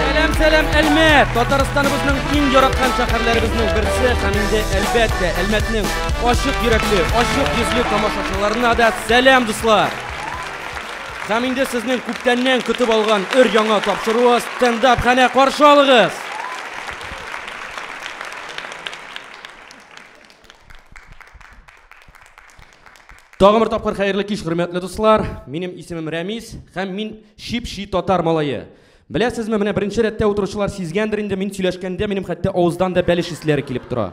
Сәлам, сәлам, Әлмәт! Татарстаныбызның иң яраткан шәһәрләребезнең берсе һәм инде әлбәттә Әлмәтнең ачык йөрәкле, ачык йөзле тамашачыларына да сәлам, дуслар! Һәм инде сезнең күптәннән көтеп алган өр яңа тапшыруы стендап хәнә каршы алыгыз! Тагын бер тапкыр хәерле кич, хөрмәтле дуслар. Минем исемем Рәмис һәм мин чип-чи татар малае. Беләсезме, менә беренче рәттә утыручылар сизгәндер инде, мин сөйләшкәндә минем хәтта авыздан да бәлеш исләре килеп тора.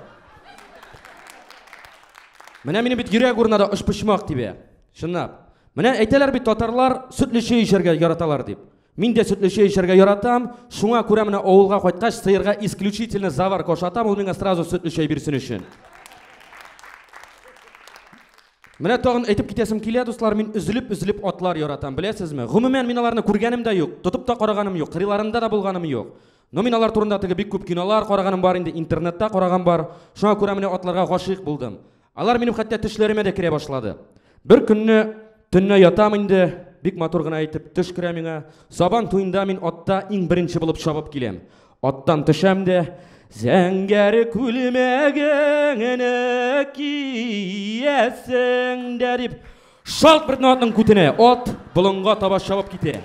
Менә минем бит йөрәк урынына да очпочмак тибә. Чынлап. Менә әйтәләр бит татарлар сөтлече эчәргә яраталар дип. Мин дә сөтле чәй эчәргә яратам, шуңа күрә менә авылга кайткач сыерга исключительно заварка ашатам, ул миңа сразу сөтле чәй бирсен өчен. Менә тагын әйтеп китәсем килә, дуслар, мин өзелеп-өзелеп атлар яратам, беләсезме? Гомумән мин аларны күргәнем дә юк, тотып та караганым юк, кырыйларында да булганым юк. Но мин алар турында теге бик күп кинолар караганым бар инде, интернетта караган бар. Шуңа күрә менә атларга гашыйк булдым. Алар минем хәтта төшләремә дә керә башлады. Бер көнне төнне ятам инде, бик матур гына итеп төш керә миңа. Сабан туенда мин атта иң беренче булып чабып киләм. Аттан төшәм дә, Зәңгәр күлмәгеңне киясең дә дип шалт бер атның күтенә ат болынга таба чабып китә.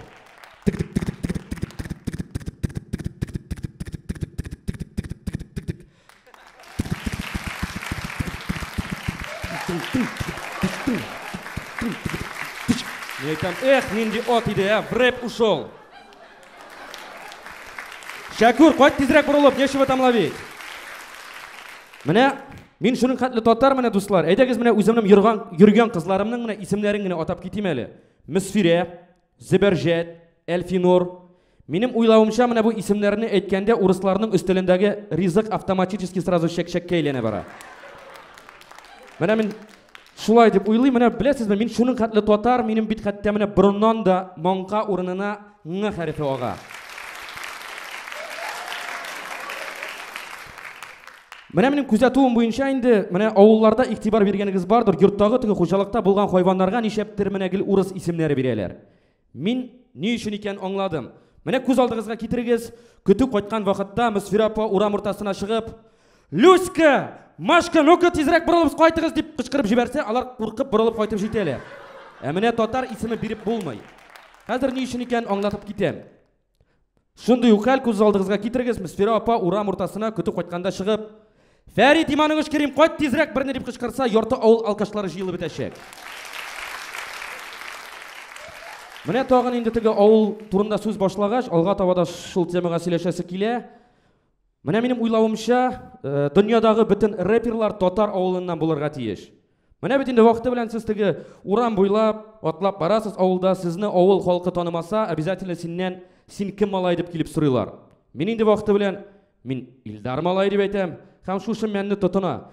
Мин әйтәм, эх, нинди ат иде, ә, вреп ушел. Шәкүр, кайт тизрәк борылып, нечего там ловить. Менә мин шуның хәтле татар менә дуслар. Әйдәгез менә үземнең йөргән йөргән кызларымның менә исемнәрен генә атап китим әле. Мөсфирә, Зөбәрҗәт, Әлфинур. Минем уйлавымча, менә бу исемнәрне әйткәндә урысларның өстәлендәге ризык автоматически сразу чәкчәккә әйләнә бара. Менә мин шулай дип уйлыйм, менә беләсезме, мин шуның хәтле татар, минем бит хәтта менә борыннан да маңка урынына ң хәрефе ага. Менә минем күзәтүем буенча инде, менә авылларда игътибар биргәнегез бардыр, йорттагы теге хуҗалыкта булган хайваннарга ничәптер менә гел урыс исемнәре бирәләр. Мин ни өчен икән аңладым. Менә күз алдыгызга китерегез, көтү кайткан вакытта Мөсфирә апа урам уртасына чыгып, "Люська, Машка, ну-ка тизрәк борылып кайтыгыз" дип кычкырып җибәрсә, алар куркып борылып кайтып җитәләр. Ә менә татар исеме биреп булмый. Хәзер ни өчен икән аңлатып китәм. Шундый ук хәл күз алдыгызга китерегез, Мөсфирә апа урам уртасына көтеп кайтканда чыгып, Фәрит иманыгыз керим, кайт тизрәк берне дип кычкырса, ярты авыл алкашлары җыелып бетәчәк. Менә тагын инде теге авыл турында сүз башлагач, алга таба да шул темага сөйләшәсе килә. Менә минем уйлавымча, э, дөньядагы бөтен рэперлар татар авылыннан булырга тиеш. Менә бит инде вакыты белән сез теге урам буйлап, атлап барасыз авылда, сезне авыл халкы танымаса, обязательно синнән син кем малай дип килеп сорыйлар. Мин инде вакыты белән мин Илдар малай дип әйтәм, һәм шушы мәнне тотына.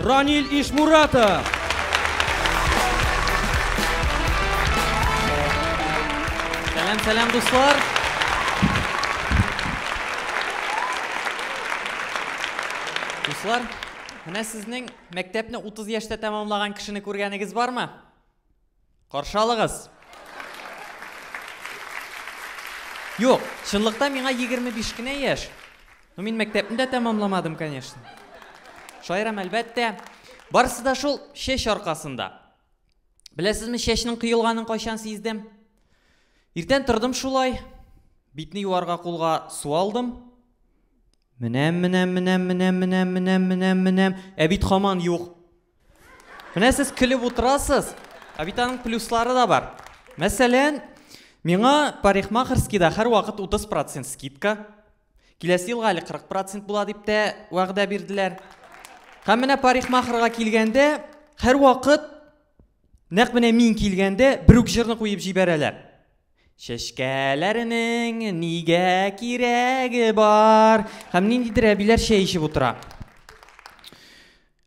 Раниль Ишмуратов. Сәлам, сәлам, дуслар. Дуслар, менә сезнең мәктәпне 30 яшьтә тәмамлаган кешене күргәнегез бармы? Каршы алыгыз! Юк, чынлыкта миңа егерме биш кенә яшь. Ну, мин мәктәпне дә тәмамламадым, конечно. Шаярам, әлбәттә. Барысы да шул чәч аркасында. Беләсезме, чәчнең кыелганын кайчан сиздем? Иртән тордым шулай, битне юарга кулга су алдым. Менәм, менәм, менәм, менәм, менәм, менәм, менәм, менәм. Ә бит хаман юк. Менә сез көлеп утырасыз, ә бит аның плюслары да бар. Мәсәлән, миңа парикмахерскийда һәрвакыт 30 процент скидка, киләсе елга әле 40 процент була дип тә вәгъдә бирделәр. Һәм менә парикмахерга килгәндә, һәрвакыт нәкъ менә мин килгәндә бер үк җырны куеп җибәрәләр. Чәчкәләрнең нигә кирәге бар? Һәм ниндидер әбиләр чәй эчеп утыра.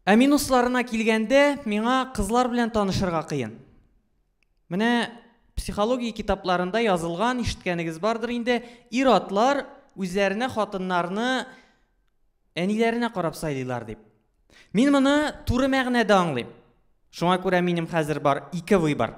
Ә минусларына килгәндә, миңа кызлар белән танышырга кыен. Менә психология китапларында язылган, ишеткәнегез бардыр инде, ир-атлар үзләренә хатыннарны әниләренә карап сайлыйлар дип. Мин моны туры мәгънәдә аңлыйм. Шуңа күрә минем хәзер бар ике выбор.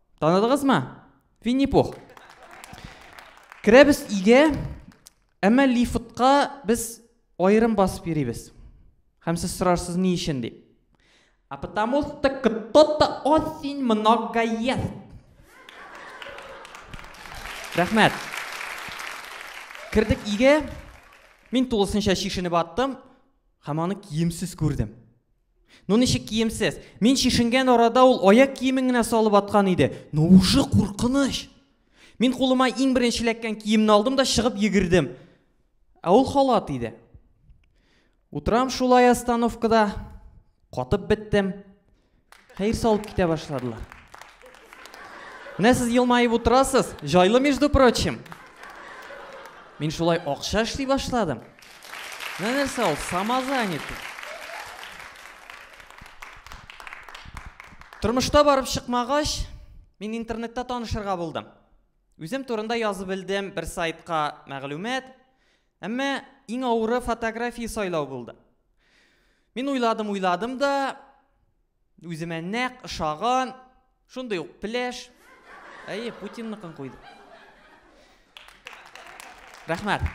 Таныдыгызмы? Винни-Пух. Керәбез өйгә, әмма лифтка без аерым басып йөрибез. Һәм сез сорарсыз ни өчен дип. А потому что кто-то очень много ест. Рәхмәт. Кердек өйгә. Мин тулысынча шешенеп аттым һәм аны киемсез күрдем. Ну ничек киемсез? Мин чишенгән арада ул аяк киемен генә салып аткан иде. Ну уже куркыныч. Мин кулыма иң беренче эләккән киемне алдым да чыгып йөгердем. Ә ул халат иде. Утрам шулай остановкада катып беттем. Хәер салып китә башладылар. Менә сез елмаеп утырасыз, җайлы между прочим. Мин шулай акча эшли башладым. Менә нәрсә ул, самозанятый. Тормышта барып чыкмагач, мин интернетта танышырга булдым. Үзем турында язып белдем бер сайтка мәгълүмат, әмма иң авыры фотография сайлау булды. Мин уйладым, уйладым да, Үземә нәкъ ошаган, шундый ук пеләш. Әйе, Путинныкын куйдым. Рәхмәт.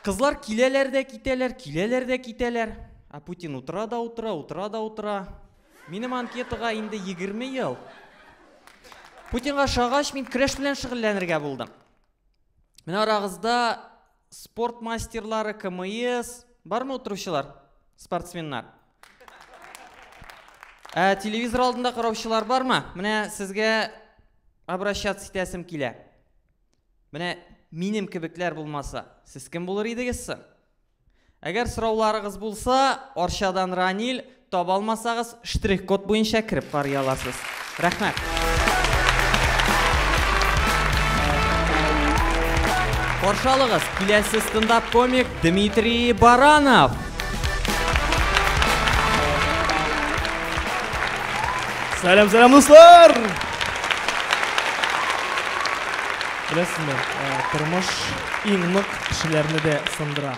Кызлар киләләр дә китәләр, киләләр дә китәләр. Ә Путин утыра да утыра, утыра да утыра. Минем анкетага инде 20 ел. Путинга шагач, мин креш белән шөгыльләнергә булдым. Менә арагызда Спорт мастерлары, КМС. Бармы утыручылар? Спортсменнар. Ә телевизор алдында караучылар бармы? Менә сезгә обращаться итәсем килә. Менә минем кебекләр булмаса, сез кем булыр идегез соң? Әгәр сорауларыгыз булса, Арчадан Раниль, таба алмасагыз, штрих-код буенча кереп карый аласыз. Рәхмәт! Каршы алыгыз, киләсе стендап-комик Дмитрий Баранов! Сәлам, сәлам, дуслар! Беләсезме, тормыш иң нык кешеләрне дә сындыра.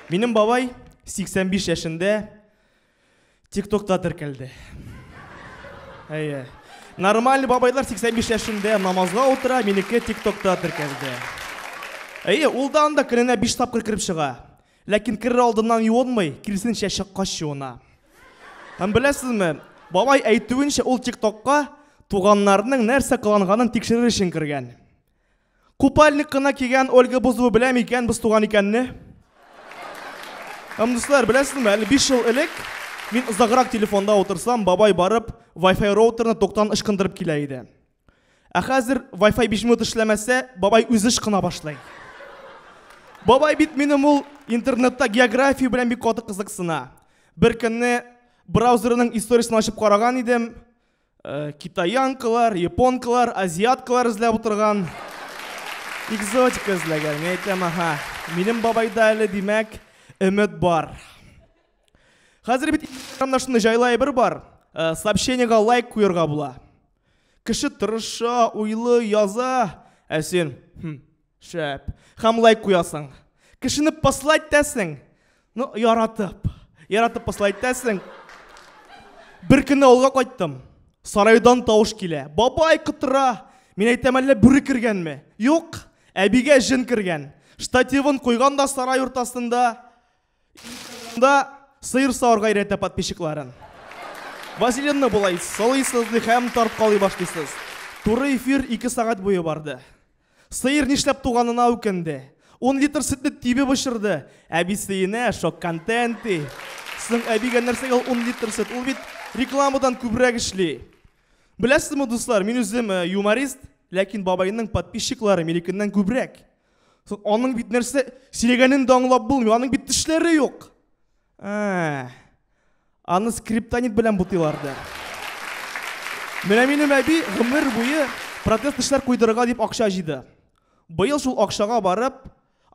Минем бабай 85 яшендә тиктокта теркәлде. Әйе. Нормаль бабайлар 85 яшендә намазга утыра, минеке тиктокта теркәлде. Әйе, ул да анда көненә 5 тапкыр кереп чыга. Ләкин керер алдыннан юынмый, киресенчә чыккач юына. Һәм беләсезме, бабай әйтүенчә, ул тиктокка туганнарының нәрсә кыланганын тикшерер өчен кергән. Купальник кына кигән Ольга Бузова белә микән без туган икәнне? Һәм дуслар, беләсезме, әле 5 ел элек мин озаграк телефонда утырсам, бабай барып Wi-Fi роутерны токтан ычкындырып килә иде. Ә хәзер Wi-Fi 5 минут эшләмәсә, бабай үзе ычкына башлый. Бабай бит минем ул интернетта география белән бик каты кызыксына. Бер көнне браузерының историясен ачып караган идем, Э, китаянкалар, японкалар, азиаткалар эзләп утырган. Экзотика эзләгән, мин әйтәм, аха. Минем бабайда әле, димәк, өмет бар. Хәзер бит инстаграмда шундый җайлы әйбер бар. Э, сообщениега лайк куярга була. Кеше тырыша, уйлы, яза, ә син, хм, Шәп. Һәм лайк куясың. Кешене посла итәсең. Ну, яратып. Яратып посла итәсең. Бер көнне авылга кайттым. Сарайдан тавыш килә. Бабай кытыра. Мин әйтәм, әллә бүре кергәнме? Юк. Әбигә җен кергән. Штативын куйган да сарай уртасында. Да сыйр савырга өйрәтә подписчикларын. Вазелинны болай сылыйсыз ди һәм тарткалый башлыйсыз. Туры эфир ике сәгать буе барды. Сыер нишләп туганына үкенде. Ун литр сөтне тибеп очырды. Әбисеенә шок контент ди. Соң әбигә нәрсәгә ул ун литр сөт? Ул бит рекламадан күбрәк эшли. Беләсезме, дуслар, мин үзем юморист, ләкин бабайның подписчиклары минекеннән күбрәк. Аның бит нәрсә сөйләгәнен дә аңлап булмый, аның бит тешләре юк. Ә, аны скриптонит белән бутыйлар да. Менә минем әби гомер буе протез тешләр куйдырырга дип акча җыйды. Быел шул акчага барып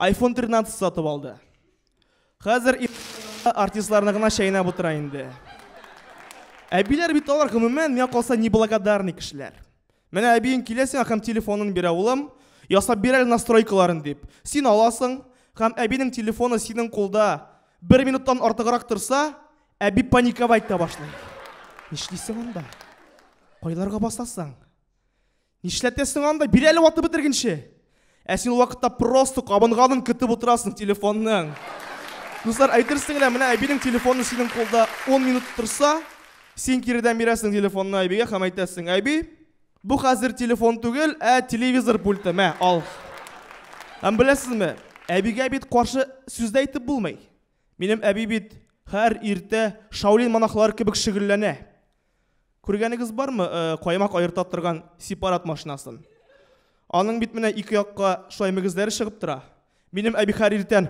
iPhone 13 сатып алды. Хәзер артистларны гына чәйнәп утыра инде. Әбиләр бит алар гомумән миңа калса неблагодарный кешеләр. Менә әбиең килә сиңа һәм телефонын бирә, улым, ясап бир әле настройкаларын дип. Син аласың, һәм әбинең телефоны синең кулда бер минуттан артыграк торса, әби паниковать та башлый. Нишлисең анда? Кайларга басасың? Нишләтәсең анда? Бир әле ватып бетергенче! Ә син ул вакытта просто кабынганын көтеп утырасың телефонның. Дуслар, әйтерсең лә, менә әбинең телефоны синең кулда 10 минут торса, син киредән бирәсең телефонны әбигә һәм әйтәсең, әби, бу хәзер телефон түгел, ә телевизор пульты, мә, ал. Һәм беләсезме, әбигә бит каршы сүз дә әйтеп булмый. Минем әби бит һәр иртә шаулин монахлары кебек шөгыльләнә. Күргәнегез бармы, э, каймак аерта торган сепарат машинасын? Аның бит менә ике якка шулай мөгезләре чыгып тора. Минем әбихәр иртән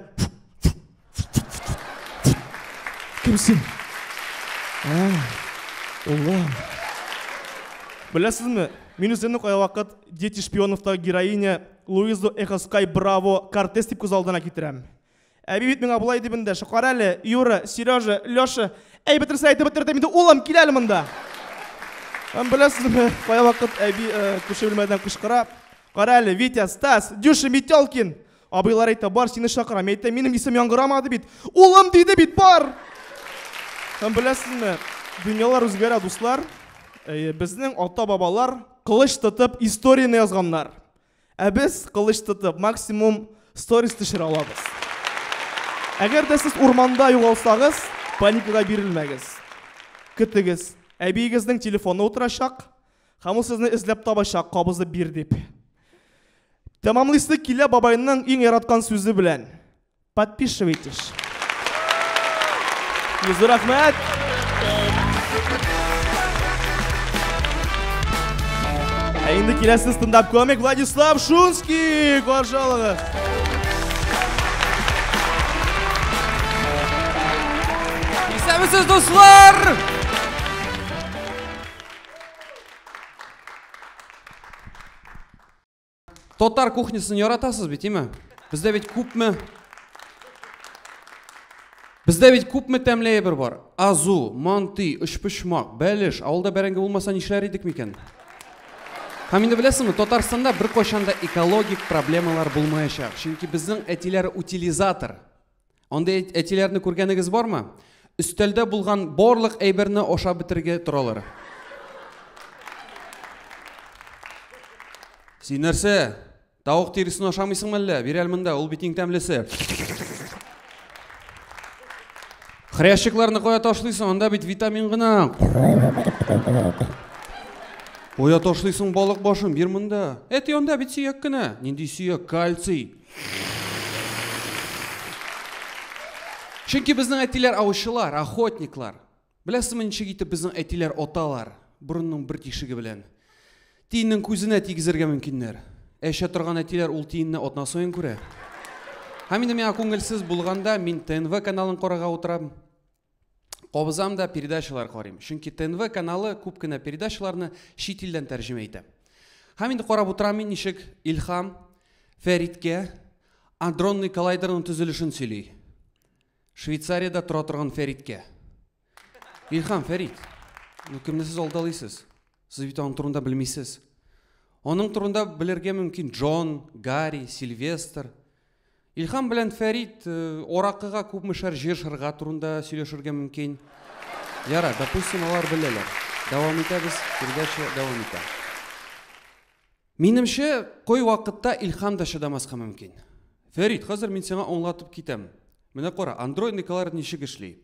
Кемсең? Ә, Уллам. Беләсезме, мин үземне кая вакыт Дети шпионовта героиня Луизу Эхоскай Браво Кортес дип күз алдына китерәм. Әби бит миңа болай дип эндәшә. Кара әле, Юра, Сережа, Леша, әй бетерсә әйтеп бетердем инде, улым, кил әле монда. Һәм беләсезме, кая вакыт әби э, күрше бүлмәдән кычкыра. Кара әле, Витя, Стас, Дюша, Метелкин. Абыйлар әйтә, бар, сине чакырам. Мин әйтәм, минем исем яңгырамады бит. Улым диде бит, бар! Һәм беләсезме, дөньялар үзгәрә, дуслар. Э, Безнең ата-бабалар кылыч тотып историяне язганнар. Ә без кылыч тотып максимум сторис төшерә алабыз. Әгәр дә сез урманда югалсагыз, паникага бирелмәгез. Көтегез. Әбиегезнең телефоны утырачак, һәм ул сезне эзләп табачак, кабызып бир дип. Тәмамлыйсы килә бабайның иң яраткан сүзе белән. Подписывайтесь. Йөзле рәхмәт. Ә инде киләсе стендап комик Владислав Шунский каршы алыгыз. Исәнмесез, дуслар! Татар кухнясын яратасыз бит, име? Бездә бит күпме Бездә бит күпме тәмле әйбер бар. Азу, манты, өчпочмак, бәлеш, авылда бәрәңге булмаса нишләр идек микән? Һәм инде беләсеңме, Татарстанда беркайчан да экологик проблемалар булмаячак, чөнки безнең әтиләр утилизатор. Андый әтиләрне күргәнегез бармы? Өстәлдә булган барлык әйберне ашап бетергә торалар. Син нәрсә? Тавык тиресен ашамыйсыңмы әллә? Бир әле монда, ул бит иң тәмлесе. Хрящикларны кая ташлыйсың? Анда бит витамин гына. Кая ташлыйсың балык башын? Бир монда. Әти, анда бит сөяк кенә. Нинди сөяк? Кальций. Чөнки безнең әтиләр аучылар, охотниклар. Беләсезме, ничек итеп безнең әтиләр оталар? Борынның бер тишеге белән. Тиеннең күзенә тигезергә мөмкиннәр. Әчә торган әтиләр ул тиенне атна саен күрә. Һәм инде миңа күңелсез булганда, мин ТНВ каналын карарга утырам. Кабызам да передачалар карыйм. Чөнки ТНВ каналы күп кенә передачаларны чит илдән тәрҗемә итә. Һәм инде карап утырам мин ничек Илхам Фәриткә адронный коллайдерның төзелешен сөйли. Швейцариядә тора торган Фәриткә. Илхам Фәрит, ну кемне сез алдалыйсыз? Сез бит аның турында белмисез. Аның турында белергә мөмкин Джон, Гарри, Сильвестр, Илһам белән Фәрит э, Оракыга күпмешәр җир шырга турында сөйләшергә мөмкин. Яра, допустим, алар беләләр. Дәвам итәбез, передача дәвам итә. Минемчә, кой вакытта Илһам да чыдамаска мөмкин. Фәрит, хәзер мин сиңа аңлатып китәм. Менә кара, андроид Николаев ничек эшли.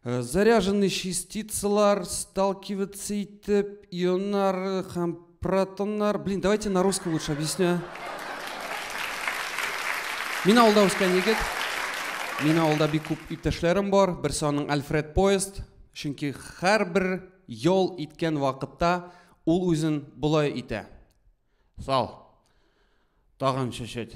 Э, заряженный частицалар, сталкиваться итеп, ионнар һәм протоннар. Блин, давайте на русском лучше объясню. Мин авылда үскән егет. Мин авылда бик күп иптәшләрем бар. Берсе аның Альфред Поезд. Чөнки һәрбер ял иткән вакытта ул үзен болай итә. Сал. Тагын чәчәт.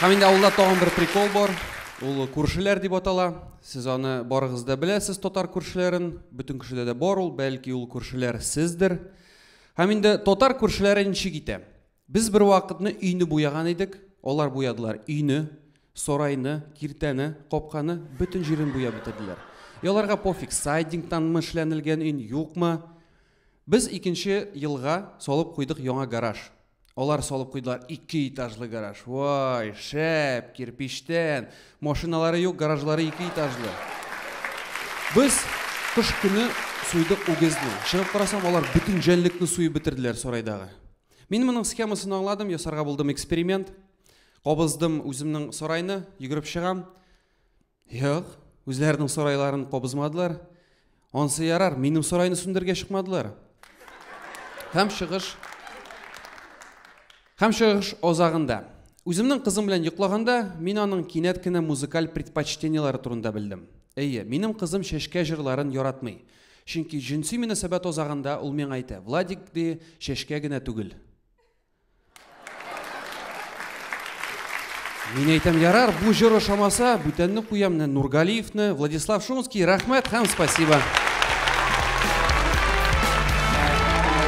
Һәм инде авылда тагын бер прикол бар. Ул күршеләр дип атала. Сез аны барыгыз да беләсез, татар күршеләрен. Бөтен кешедә дә бар ул, бәлки ул күршеләр сездер. Һәм инде татар күршеләре ничек итә? Без бер вакытны өйне буяган идек, алар буядылар өйне, сарайны, киртәне, капканы, бөтен җирен буяп бетерделәр. Яларга пофиг, сайдингтанмы эшләнелгән өй, юкмы? Без икенче елга салып куйдык яңа гараж. Алар салып куйдылар ике этажлы гараж. Вай, шәп, кирпичтән. Машиналары юк, гаражлары ике этажлы. Без кыш көне суйдык үгезне. Чыгып карасам, алар бөтен җәнлекне суеп бетерделәр сарайдагы. Мин моның схемасын аңладым, ясарга булдым эксперимент. Кабыздым үземнең сарайны, йөгереп чыгам. Юк, үзләренең сарайларын кабызмадылар. Ансы ярар, минем сарайны сүндергә чыкмадылар. Һәм чыгыш Һәм чыгыш азагында. Үземнең кызым белән йоклаганда, мин аның кинәт кенә музыкаль предпочтениеләре турында белдем. Әйе, минем кызым чәчкә җырларын яратмый. Чөнки җенси мөнәсәбәт азагында ул миңа әйтә, Владик, ди, чәчкә генә түгел. Мин әйтәм, ярар, бу җыр ошамаса, бүтәнне куям, менә Нургалиевны, Владислав Шумский, рәхмәт һәм спасибо.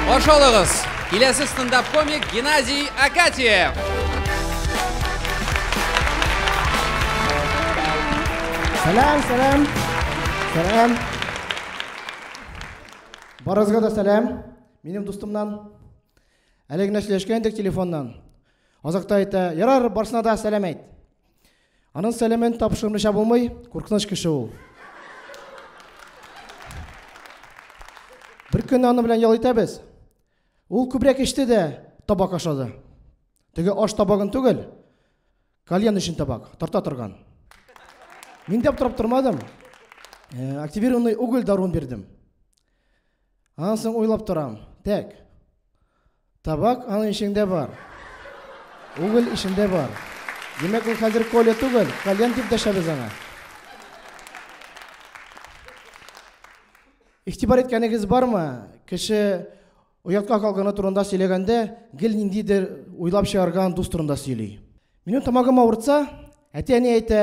Каршы алыгыз, киләсе стендап-комик Геннадий Акатьев. Сәлам, сәлам. Сәлам. Барызга да сәлам. Минем дустымнан Әле генә сөйләшкән идек телефоннан. Азакта әйтә, ярар, барсына да сәлам әйт. Аның сәламен тапшырмыйча булмый, куркыныч кеше ул. Бер көнне аны белән ял итәбез. Ул күбрәк эчте дә табак ашады. Теге аш табагын түгел, кальян өчен табак, тарта торган. Мин дә аптырап тормадым. Э, активированный уголь даруын бирдем. Аннан соң уйлап торам, тәк. Табак аның ишегендә бар. Уголь ишендә бар. Димәк, ул хәзер Коля түгел, Кальян дип дәшәбез аңа. Ихтибар иткәнегез бармы? Кеше оятка калганы турында сөйләгәндә, гел ниндидер уйлап чыгарган дус турында сөйли. Минем тамагым авыртса, әти-әни әйтә,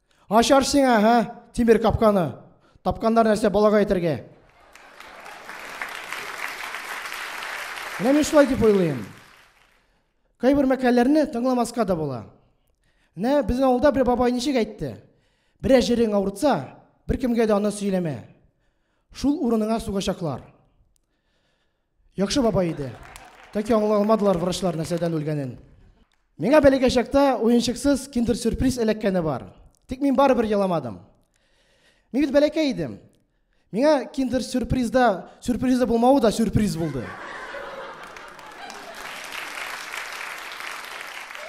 Ачар сиңа, һә, тимер капканы. Тапканнар нәрсә балага әйтергә. Менә мин шулай дип уйлыйм. Кайбер мәкаләләрне тыңламаска да була. Менә безнең авылда бер бабай ничек әйтте? Берә җирең авыртса, беркемгә дә аны сөйләмә. Шул урыныңа сугачаклар. Яхшы бабай иде. Тәки аңлый алмадылар врачлар нәрсәдән үлгәнен. Миңа бәләкәй чакта уенчыксыз киндер-сюрприз эләккәне бар. Тик мин барыбер еламадым. Мин бит бәләкәй идем. Миңа киндер-сюрпризда сюрпризы булмавы да сюрприз булды.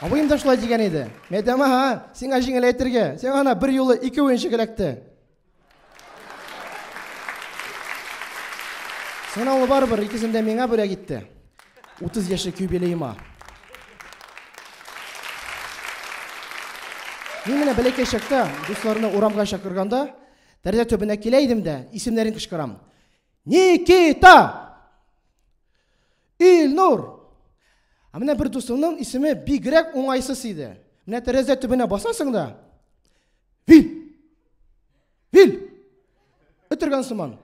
Абыем да шулай дигән иде. Мәдәмә, ха, сиңа җиңел әйтергә. Сиңа ана бер юлы ике уенчык эләкте. Сынаулы барыбер икесен дә миңа бүләк итте. 30 яшьлек юбилеема. Мин менә бәләкәй чакта дусларны урамга чакырганда, тәрәзә төбенә килә идем дә, исемнәрен кычкырам. Никита! Илнур! Ә менә бер дусыңның исеме бигрәк уңайсыз иде. Менә тәрәзә төбенә басасың да. Вил! Вил! Өтергән сыман.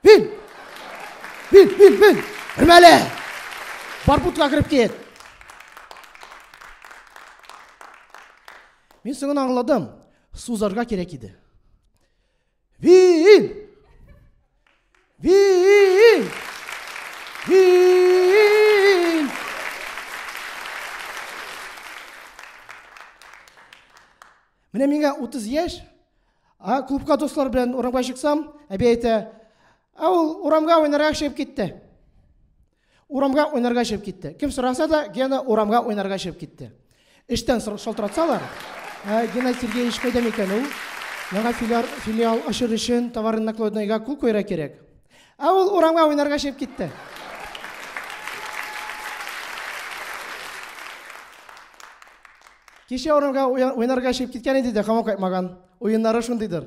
Вил! Вил, вил, вил! Үрмәле! Барбутка кереп кит! Мин соңын аңладым. Сузарга кирәк иде. Виил! Виил! Виил! Менә миңа 30 яшь, а клубка дуслар белән урамга чыксам, әби әйтә, ә ул урамга уйнарга чыгып китте. Урамга уйнарга чыгып китте. Кем сораса да, Гена урамга уйнарга чыгып китте. Эштән шалтыратсалар, ә, Гена Сергеевич кайда микән ул? Яңа филиал, филиал ачыр өчен товарный накладнойга кул куйра кирәк. Ә ул урамга уйнарга чыгып китте. Кичә урамга уйнарга чыгып киткән иде дә, хамам кайтмаган. Уеннары шундыйдыр.